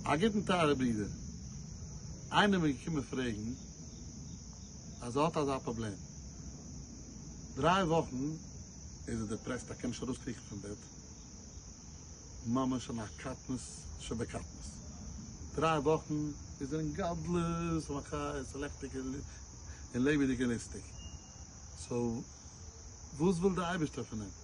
א גוטן טייערע ברודער, איינער מיר געקומען פרעגן אז ער האט אזא פראבלעם, דריי וואכן איז ער דעפרעסט ער קען נישט ארויס קריכן פון בעט, ממש אין א קטנות שבקטנות, דריי וואכן איז ער אין גדלות ומכעיס לעכטיג און לעבעדיג און ליסטיג, סאו וואס וויל די אייבערשטער פון אים?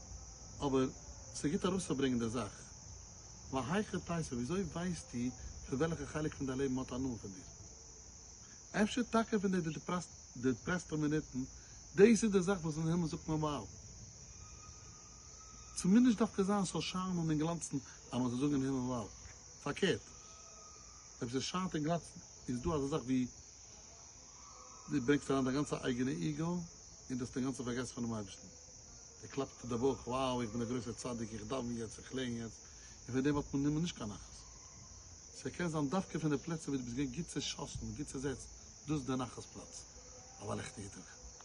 אבער ס'גוט ארויסצוברענגן די זאך. והיכי תישא, וויאזוי ווייסטו פון וועלכע חלק פון דיין לעבן מ'האט הנאה פון דיר? אפשר טאקע פון די דיפרעסטע מינוטן? דאס איז די זאך וואס אין הימל זאגט מען וואו! ס'מוז נישט דווקא זיין ס'זאל שיינען און גלאנצן אז מ'זאל זאגן אין הימל וואו! פארקערט, אויב ס'שיינט און גלאנצט איז דא אזא זאך ווי דו ברענגסט אריין דיין גאנצע אייגענע איגו און דו האסט אינגאנצן פארגעסן פונעם אייבערשטן. ער קלאפט אויף די בויך, wow איך בין א גרויסער צדיק, איך דאווען יעצט, איך לערן יעצט, און פון דעם האט מען נומער נישט קיין נחת. סע קען זיין דווקא פון די פלעצער וואו דו ביסט געווען גוט צעשאסן, גוט צעזעצט, דאס איז די נחת פלאץ, אבער א לעכטיגע טאג.